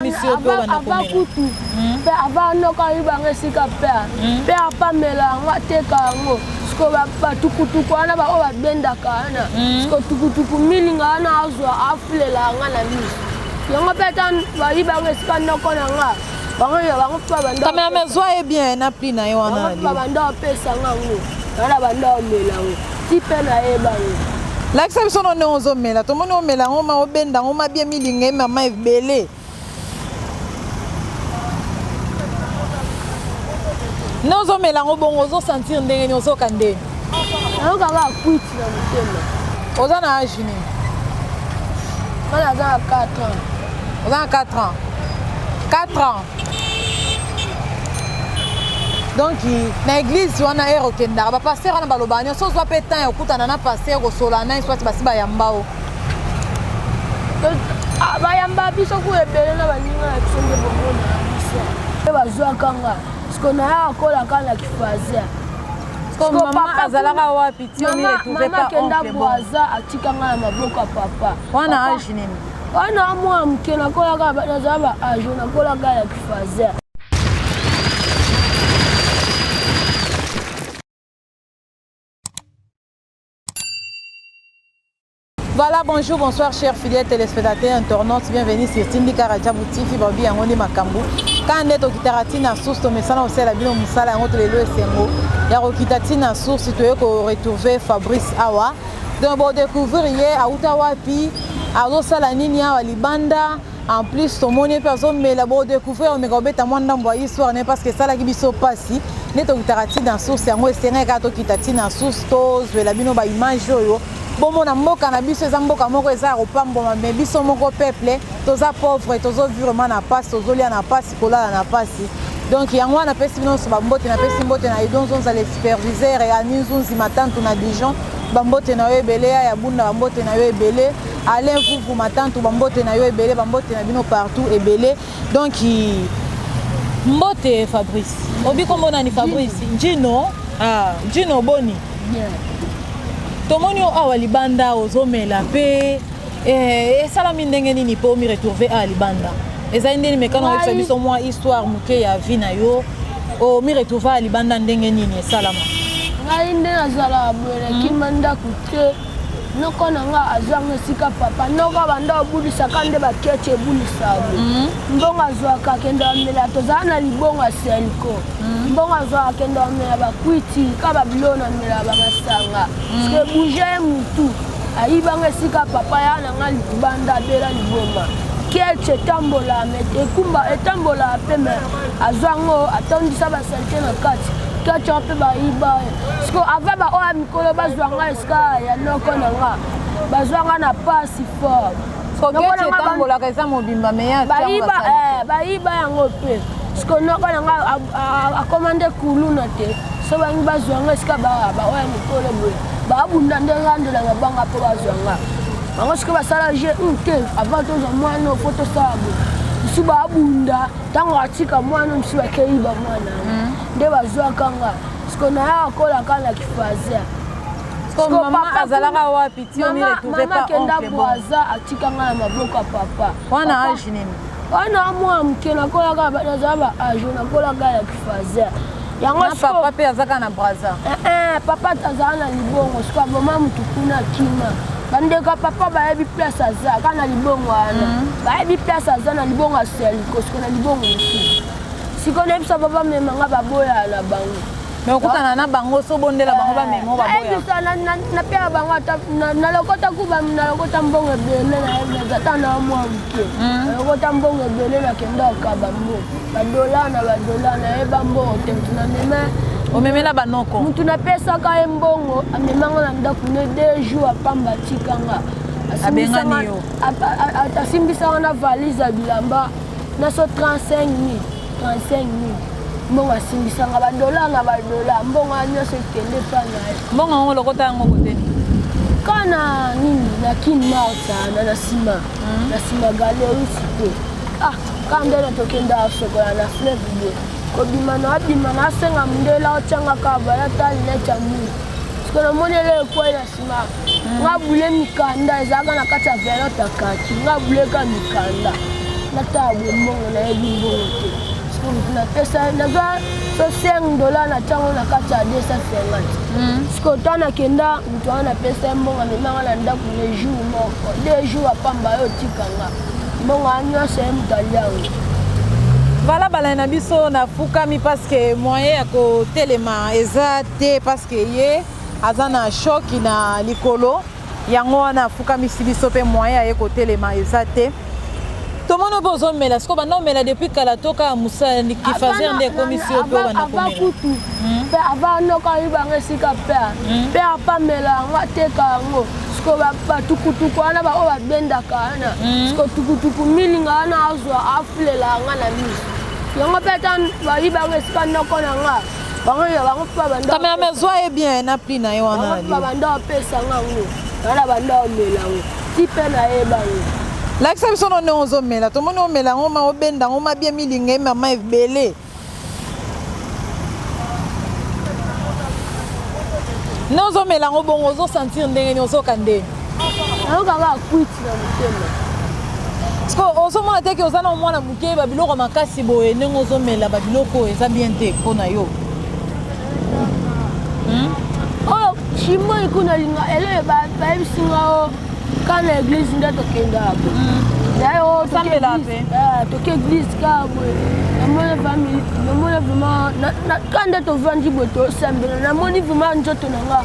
ava kutu mpe hmm. ava noka ayibanga esika mpe mpe hmm. apamela yango ateka yango siko batukutuku wana baoyo babendaka wana hmm. siko tukutuku milinga wana azwa afulela yanga na miso yango mpe ata bayibanga esika noko na nga kamera mezwa ye bien na pli na ye wana babanda bapesa nga yango wana banda bamela yango ti pe nayeba yo lakisa biso none ozomela tomoni omela yango ma obenda yango mabie milinga ye mama ebele nde ozomela yango bongo ozosentir ndenge nini ozoka ndenge ayokaka akwiti na motema oza na age nini bana aza na 4 ans oza na 4 ans 4 ans donc na église wana ere okendaka bapasteur wana balobaka nyonso ozwa mpe temps ya kokutana na pasteur kosola na eswati basi bayamba o ah, bayamba biso ku ebele na baninga na biso nde bomona na biso mpe bazwaka nga siko nayaka kolaka na kifasia azalaka wapi tiomama akenda bwaza atika nga na maboko ya papa wana age nini wana mwa moke nakolaka naza ba age nakolaka ya kifazer Voilà, bonjour, bonsoir, chers fidèles téléspectateurs, internautes, bienvenue sur Tindika Rajabu TV, Babi Yangoni Makambu. Quand on est au Kitaratina Source, on met ça au ciel, on met ça là, on met le Sengo. Il y a au Kitaratina Source, tu es au retrouver Fabrice Awa. donc bo découvrir ye awuta wapi azosala nini awa libanda en plus tomoni mpe azomela bo découvrir omeka obeta mwa ndambo ya histoire ne parce que esalaki biso mpasi nde tokitaka ti na source yango esengaki kaka tokita ti na source tozwela bino baimage oyo bomona mboka na biso eza mboka moko eza ya kopambwama me biso moko peuple toza pauvre tozovivre ma na mpasi tozolia na mpasi kolala na pasi donc yango wana napesi bino nyonso bambote napesi mbote na edon zonza le superviseur ya ninzunzi matantu na dijon bambote na yo ebele ya ya bunda bambote na yo ebele alain vuvu matantu bambote na yo ebele bambote na bino partout ebele donc mbote fabrice obi kombo nani fabrice njino ah. njino boni tomoni yo awa libanda ozomela mpe Eh, esalami ndenge nini mpo mi retrouve a libanda ezali ndeni mekano oyebisa biso mwa histoire moke ya vie na yo omi oh, retrouve a libanda ndenge nini esalama ngai nde nazalaka boye nakima hmm. ndako te noko na nga azwanga esika papa noko abanda obulisaka nde baketi ebulisaka hmm. mbongo azwaka akenda bamela tozala na libongo ya senko hmm. mbongo azwaka akenda bamela bakwiti ka babiloko na mela bamasanga ske bouge ye mutu ayibanga esika papa ya na nga libanda abela liboma kelche etambola ekumba etambola mpe me azwa yango atondisa basalite na kati kelche mpe bayiba siko ava baoyo ya mikolo bazwa nga esika ya noko na nga bazwa nga na pasi fort soketambolaka eza mobimba meyabayiba eh, yango mpe siko noko na nga akoma nde kuluna te so bangi bazwa nga esika baoyo ya mikolo boye babunda nde nga nde na mabanga mpo bazwa nga bango soki basala je hmm, te avant tozwa mwana ofo tosala boye mosusu babunda ntango atika mwana mosusu bakei bamwana hmm. nde bazwaka nga siko nayaka kolaka na kifazer azalaka wapi tiomama kenda bwaza atika nga na maboko ya papa wana age nini wana mwa moke nakolaka naza ba age nakolaka ya kifazer papa mpe azaka na braza eh, eh, papa tazala na libongo soki aboma motu kuna kima bandeko ya papa bayebi place aza kaka na libongo wana mhm. bayebi place aza na libongo aseliko siko na libongo mosusu siko nayebisa papa memanga baboya na bango me okutana na bango so bondela bango bamema eh, baboyabisa napea bango ata nalokota kuba nalokota mbongo ebele nayebi ata na mwa moke hmm. nalokota mbongo ebele nakenda okaba mbo badola na badola nayeba mbongo te motu namema omemela banoko motu napesaka ye mbongo amemanga na ndako ne deux jours apamba atikanga abengani yo asimbisanga na valise ya bilamba naso 35 000 35000 mbongo asimbisanga badola na badola mbongo ya nyonso ekende epai na ye mbongo yango lokota yango kote kana nini na kin marta na na nsima hmm. na nsima galerie site ah kaka nde natokenda sokola na fleuve de kobima na abima na asenga mondela otyangaka balata linete ya mulu sikoyo namoni ele ekwei na nga bule mikanda ezalaka na kati ya velote ya kaki nga buleka mikanda natala bombongo nayebi mbongo te napesa naza so 5 dola na ntango na kati ya 250 siko ta nakenda moto wana napesa ye mbongo amemanga na ndako le jour moko de jour apamba yo otika nga mbongo ya nyonso ye moto aliango balabala na biso nafukami parceke moyen ya kotelema eza te parceke ye aza na choc na likolo yango wana afukamisi biso mpe moyen aye kotelema eza te tomoni obe ozomela siko banda omela depuis kala toka ya mosala kifazer nde ekomisi yo mpe obanda komela kutu hmm? mpe ava noka oyibanga esika mpe hmm? mpe apamela yango ateka yango siko batukutuku wana baoyo babendaka wana hmm? siko tukutuku milinga wana azwa afulela yanga na miso yango mpe ata bayibanga esika noko na ngai bango ya bango mpe banda kamera me zwa ye bien na prix na ye wana bango mpe banda opesa nga yango wana banda omela yango ti mpe na ye bango lakisa biso no ndenge ozomela tomoni omela yango ma obenda yango ma bie milinga ye mama ebele nde ozomela yango bongo ozosentir ndenge nini ozoka ndenge nayoka kaka kwiti sikoyo ozomona te ke oza na mwana moke babiloko ya makasi boye ndenge ozomela babiloko oyo eza bien te mpo na yo hmm? oyo oh, chimoi kuna alinga eleye bayebisi nga o oh, ka na eglise nde tokendaka naye hmm. osambela oh, mpe eh, toke eglise kaka boye namoni famille namoni vraiment ka nde tovandi boye tosambela namoni vraiment nzoto na nga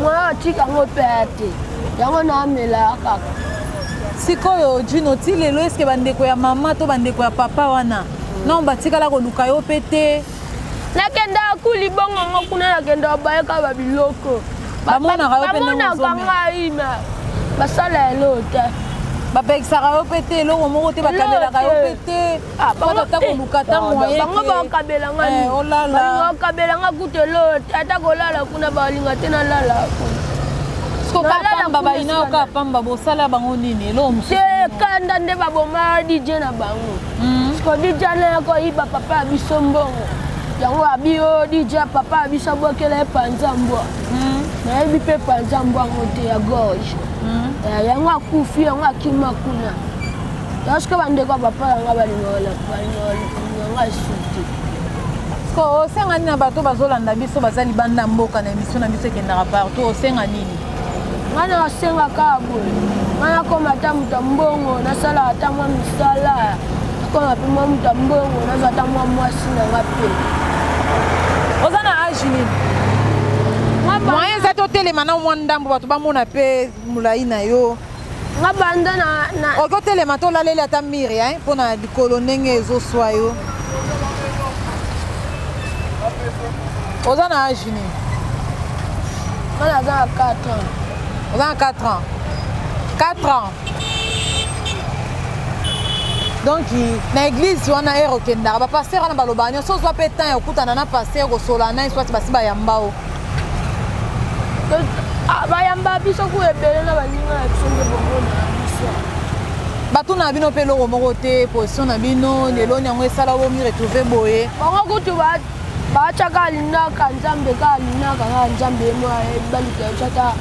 Mwana atika yango mpe aya te yango namelaka kaka sikoyo jino ti lelo eske bandeko ya mama to bandeko ya papa wana non batikala koluka yo mpe te nakendaka kuli bongo ngo kuna nakendaka bayaka babiloko bamonaka yo mpebamonaka ngai ma basala eloo te bapekisaka yo mpe te eloko moko te bakanelaka yo mpe te Ah, bango bakabela nga eh, bakabela nga kutu eloo te ata kolala kuna balinga te nalala kokapamba bayina yo kaka pamba bosala bango nini eloo mosusu te kanda nde baboma dj na bango hmm. siko dj na koyiba papa ya biso mbongo yango abi yo oh, dj papa ya biso abwakela ye panza mbwa hmm. nayebi mpe panza mbwa yango te ya gorge hmm. eh, yango akufi yango akima kuna yango sikoyo bandeko ya papa na ngai balinga ngai suki sikoyo osenga nini na bato bazolanda biso baza libanda ya mboka na emission na biso ekendaka partout osenga nini ngai nasengaka boye ngai nakoma ata moto ya mbongo nasalaka ata mwa misala nakoma mpe mwa moto ya mbongo nazwa ata mwa mwasi na ngai mpe oza na age nini moyen eza totelema na mwa ndambo bato bamona mpe molai na yo nga banda na, na... oke otelema to olaleli ata mire hein, mpo na likolo ndenge ezoswa yo oza na age nini wana aza na 4 ans oza na 4 ans 4 ans donc na église wana ere okendaka bapaster wana balobaka nyonso ozwa mpe temps ya kokutana na paster kosolana ye swati basi bayamba o Ah, bayamba biso ku ebele na baninga na biso nde bomona na biso batuna na bino mpe eloko moko te position na bino lelo yango esala bomi retrouve boye bango kutu batyaka alinaka nzambe ka alinaka kaka nzambe ye mwa baluka biso ata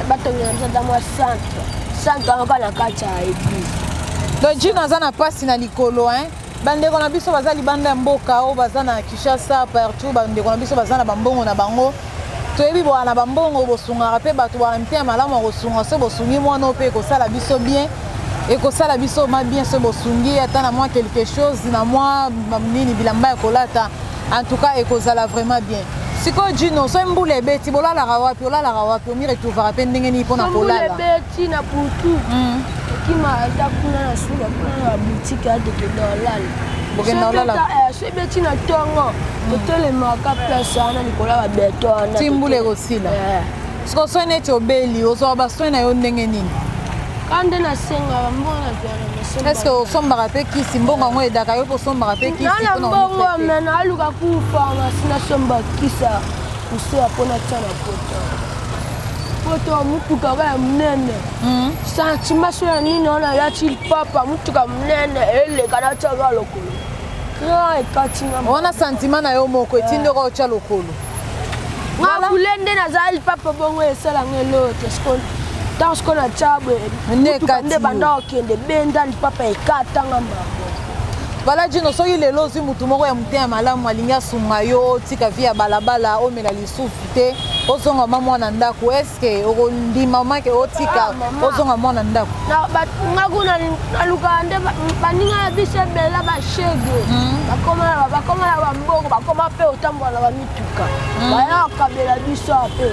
batongela biso ata mwa centre centre yango ka na kati ya eglise dojino aza na mpasi na likolo hein bandeko na biso baza libanda ya mboka oyo baza na kinshasa partout bandeko na biso baza na bambongo na bango toyebi boa na bambongo bosungaka mpe bato baa mpe ya malamu ya kosunga so bosungi mwana mpe ekosala biso bien ekosala biso ma bien so bosungi ata na mwa quelque chose na mwa nini bilamba ya kolata en tout cas ekozala vraiment bien sikoyo jino soki mbula ebeti bolalaka wapi olalaka wapi omiretuvaka mpe ndenge nini mpo na kolala ti na butu okima ata kuna na suka kuna na butike ya tokenda olala bokenda olala soki ebeti na ntongo totelemaka place wana likolo ya babeto wana ti mbula ekosila soko soki neti obeli ozwaka basoin na yo ndenge nini ka nde nasengaka mbongo nazwaka eske osombaka mpe kisi mbongo yango edaka yo kosombaka mpe kisina mbongo me naluka ku pharmacie nasomba kisa koseya mpo natya na kota poto motuka oyo ya monene hmm. santima so ya nini wana yati lipapa motuka monene eleka natiaka lokolo kra ekatinga wana santima na yo moko etindi oka otya lokolo ngabule nde nazala lipapa bongo esalanga elote sikona ntango sikoyo na cabwe motuka nde banda okende benda lipapa ekatanga mbango bala jino soki lelo ozwi motu moko ya moteya malamu alingi asunga yo otika vi ya balabala omela lisusu te ozonga ma mwana ndako eske okondima make otika ah, ozonga mwana ndako nga kuna nalukaka nde baninga ya biso ebela bashege hmm. bakoma na bambongo bakoma mpe otambola na bamituka hmm. bayaka kabela biso ape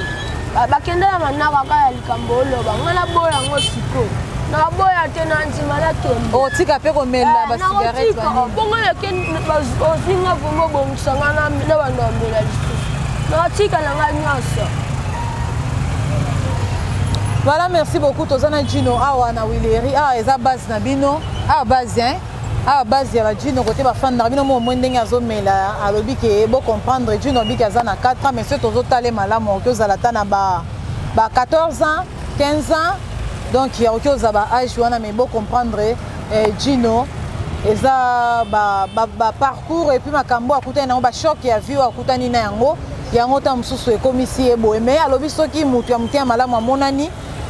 bakende na manaka kaka Kambo oloba nga na boya yango siko na boya te na ndima na kembo oh, tika pe ko mela eh, ba cigarette ba nini bongo na ke ozinga vraiment bongisa nga na na ba ndombela lisusu na tika na nga nyonso Voilà, merci beaucoup. Tozana Gino awa na Wileri. Ah, eza base na bino. Ah, base hein. awa base ya bajino kote bafandaka bino mo omoi ndenge azomela alobi ke bo comprendre jino abiki aza na 4 ans mais soki tozotala ye malamu oki ozala ata na ba ba 14 ans 15 ans donc ya oki oza ba age wana mais bo comprendre eh, Gino eza ba, ba, ba parcours epuis makambo akutani nango ba choc ya vie akutani na yango yango ntango mosusu ekomisi ye boye me alobi soki moto ya motema malamu amonani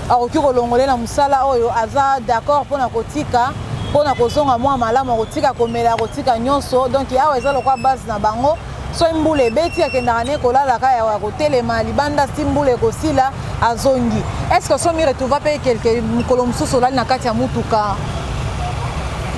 akoki kolongole na mosala oyo aza d'accord mpo na kotika mpo na kozonga mwa malamu akotika komela akotika nyonso donk awa eza lokwa base na bango Soki mbula ebeti akendaka ne kolala ka ya kotelema libanda si mbula ekosila azongi. Est-ce que somi retrouva pe quelque mokolo mosusu olali na kati ya mutuka?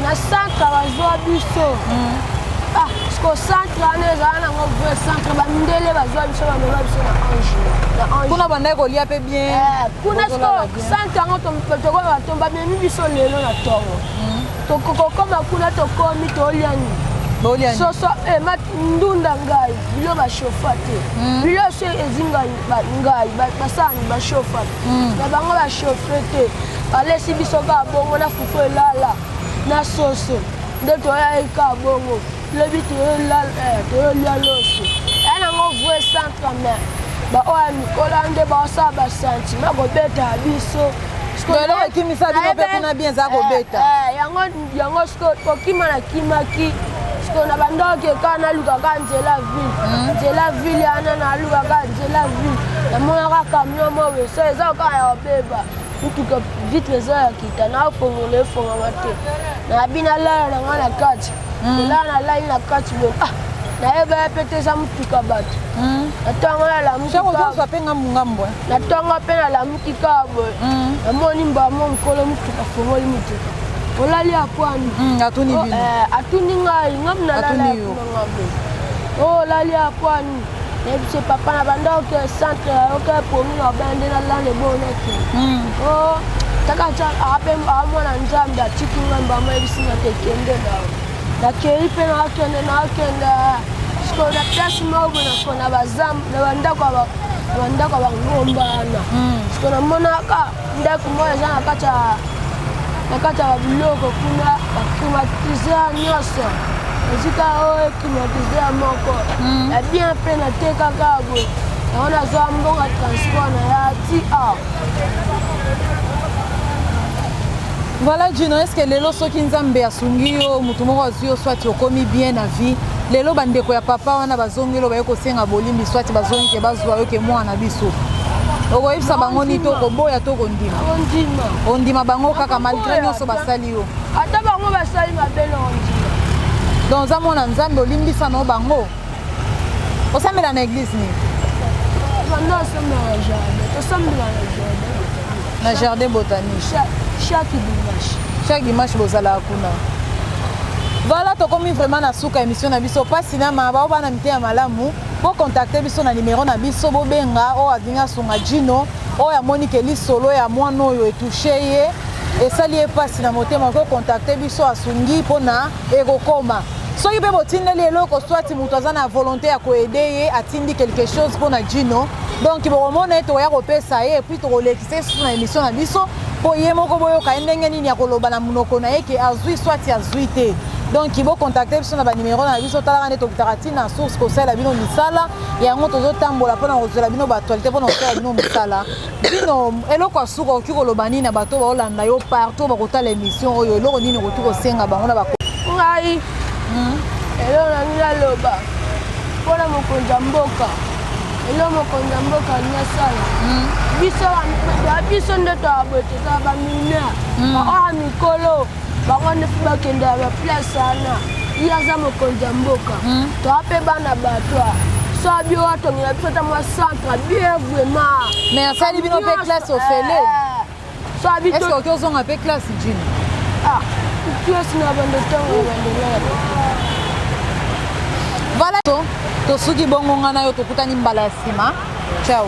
Na centre bazwa biso. Mm. Ah, siko centre wana ezala nango vrai centre bandele bazwa biso bamema biso na ange na ange kuna bandaki kolia mpe bien eh, kuna siko centre yango tokoyeba to bamemi biso lelo na ntongo mm. tokokokoma kuna tokomi toliani soso eh, ndunda ngai bilo bashofa te hmm. bilo so ezi ngai basani bashofa hmm. na bango bashofe te balesi biso kaka bongo na fufu elala na soso nde toyai kaka bongo lobi toyolia loso ya nango vrai centre mais baoyo ya mikolo nde baosala basentime kobeta ya biso eloko ekimisa bino mpe kuna bien eza kobeta eh, eh, yango siko kokima na kimaki siko na bandoki ekaa nalukaka nzela ville hmm. nzela ville yana nalukaka nzela ville namonaka camion mo weso eza okaa ya obeba motuka vitre eza ya kita naofongola efongama te nabi nalala na ngai na kati hmm. ela na lali na kati boye ah, nayeba ya mpe te eza motuka bato hmm. natonga nalamukiozwa mpe ngambo ngambo eh. natonga mpe nalamuki kaka boye hmm. namoni mbamo mokolo motuka fongoli motuka olali akwani atuni oh, eh, ngai ngambo nalala ngambo olali oh, akwani nayebisi papa na banda oke centre oke promi na obana nde nalala ebonaki hmm. o oh, taka tya ape amwana nzambe atiki nga mbama yebisi nga te kende na nakei mpe nakende nakende sikoyo na place moko boye nako na bazambo na bandako ya bangomba wana hmm. sikoyo namonaka ndako moko eza na kati ya na kati ya biloko kuna baclimatise nyonso esika oyo climatise moko hmm. ya bien mpe natekaka boye yango nazwa mbongo ya transport na ya ti awa Voilà Juno, est-ce que lelo soki Nzambe asungi yo, moto moko azwi yo soit okomi bien na vie lelo bandeko ya papa wana bazongi lo baye kosenga bolimbi swati bazongi ke bazwa yo ke mwana na biso okoyebisa bango nini to okoboya to okondima ondima bango kaka malgre nyonso basali yo ata bango basali mabe na ondima donc oza mwana nzambe olimbisa no bango osambela na eglise nini tosambela na jardin na jardin botanique chaque dimanche chaque dimanche bozalaka kuna voilà tokomi vraiment na suka émission na biso mpasi na maa bao bana miteya malamu bocontacte biso na nimero na biso bobenga oyo alingi asunga jino oyo amoni ke lisolo ya mwana oyo etouche ye esali ye mpasi na motema okoki kocontacte biso asungi mpona ekokoma soki mpe botindeli eloko swati moto aza na volonté ya koede ye atindi quelque chose mpo na jino donc bokomona ye tokoya kopesa ye epuis tokolekisa ye susu na émission na biso mpo ye moko boyoka ye ndenge nini akoloba na monoko na ye ke azwi swati azwi te donc bocontacte biso na banimero na biso talaka nde tokitaka ntina ya source kosalela bino misala yango tozotambola mpo na kozwela bino baaktualité mpo na kosalela bino misala bino eloko ya suka okoki koloba nini na bato baolanda yo partout bakotala émission oyo eloko nini okoki kosenga bango na bako ngai hmm. eloko nangi naloba mpo na mokonzi ya mboka eloko mokonzi ya mboka alingi asala hmm. biso biso nde toaboye tozala bamineur hmm. oya mikolo bango wana fi bakenda ya baplace wana ye aza mokonzi ya mboka hmm. toa mpe bana bato so bio watongela biso ata mwa centre bien vraiment mais asali bino mpe classe ofele eh, so oki ozonga mpe classe jini ah, classe na bando ntango bandelaa voilà tosuki bongo ngai na yo tokutani mbala ya nsima ciao